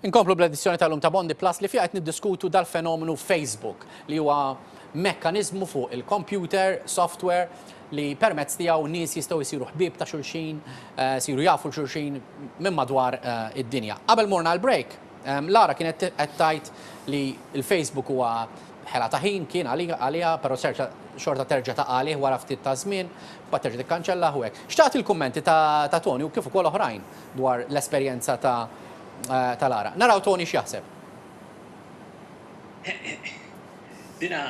Inkomplu bl-edizzjoni tal-lum ta' Bondi Plus li fiha qed niddiskutu dal-fenomenu Facebook li huwa mekkaniżmu fuq il-kompjuter, software, li permezz tiegħu nies jistgħu jsiru ħbieb ta' xulxin, isiru jafu 'l xulxin minn madwar id-dinja. Qabel morna għall-break, Lara kienet qed tgħid li l-Facebook huwa ħela ta' ħin, kien għaliha, però serġa' xorta terġa' taqa' għalih wara ftit ta' żmien, mbagħad terġa' tikkanċellah u hekk. Xtaqt il-kummenti ta' Toni u kif ukoll oħrajn dwar l-esperjenza ta' tal-għaraq. Naraw Tony x'jaħseb. Dina,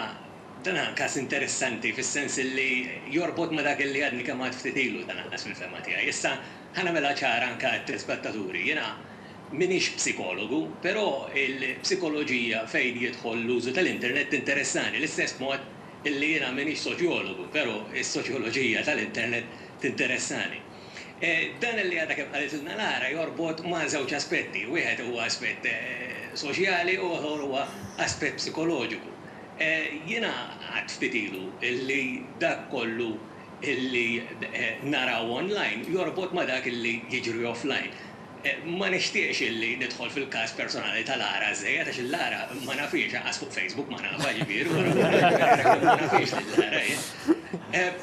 dan hu każ interessanti fis-sens li jorbot ma' dak li għadni kemm għedt ftit ilu dan għall-inqas fil-fehma tiegħi. Issa, ħa nagħmilha ċara anke għat-telespettaturi. Jiena m'iniex psikologu, però l-psikoloġija fejn jidħol l-użu tal-internet tinteressani l-istess mod li jiena m'iniex soċjologu, però s-soċjoloġija tal-internet tinteressani. Dan li għadha kemm qalitilna Lara jorbot ma' żewġ aspetti, wieħed huwa aspett soċjali u ieħor huwa aspett psikoloġiku. Jiena għedt ftit ilu li dak kollu li naraw online jorbot ma' dak li jiġri offline. Ma nixtieqx illi nidħol fil-każ personali ta' Lara żżejjed għax il-Lara ma nafhiex anqas fuq Facebook ma nafha ġifieri u allura jekk ma nafhiex lil Lara jien.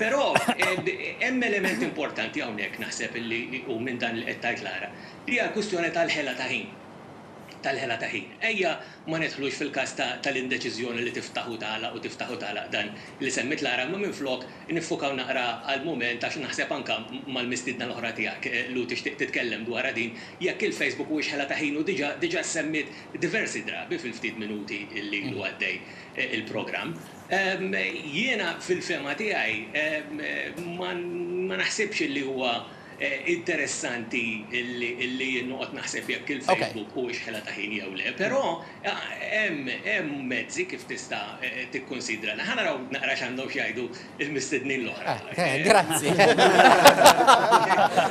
Però hemm element importanti hawnhekk naħseb illi hu minn dan li qed tgħid Lara. Hija l-kwistjoni tal-ħela ta' ħin. Tal-ħela ta' ħin. Ejja ma nidħlux fil-każ tal-indeċiżjoni li tiftaħ u tagħlaq u tiftaħ u tagħlaq dan li semmiet Lara imma minflok Niffukaw naqra għal mument għax naħseb anke mal-mistiedna l-oħra tiegħek, Lou tixtieq titkellem dwarha din, jekk il-Facebook huwiex ħela ta' ħin u diġà diġà ssemmiet diversi drabi fil-ftit minuti li ilu għaddej il-programm. Jiena fil-fehma tiegħi ma ma naħsibx li huwa Interessanti li jien noqgħod naħseb jekk il-Facebook huwiex ħela ta' ħin jew le. Però hemm mezzi kif tista' tikkunsidra dan. Ħa naraw naqra x'għandhom x'jgħidu l-mistednin l-oħra. Grazzi.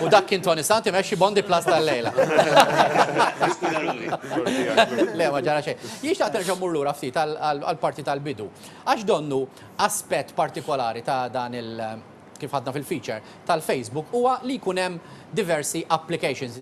U dak kien Toni Sant imexxi Bondi Plus tal-lejla. Niskuża ruħi. Le, ma ġara xejn. Jien xtaqt nerġa' mmur lura ftit għall-parti tal-bidu. Għax donnu aspett partikolari ta' dan kif ħadna fil-feature tal-Facebook, huwa li jkun hemm diversi applications.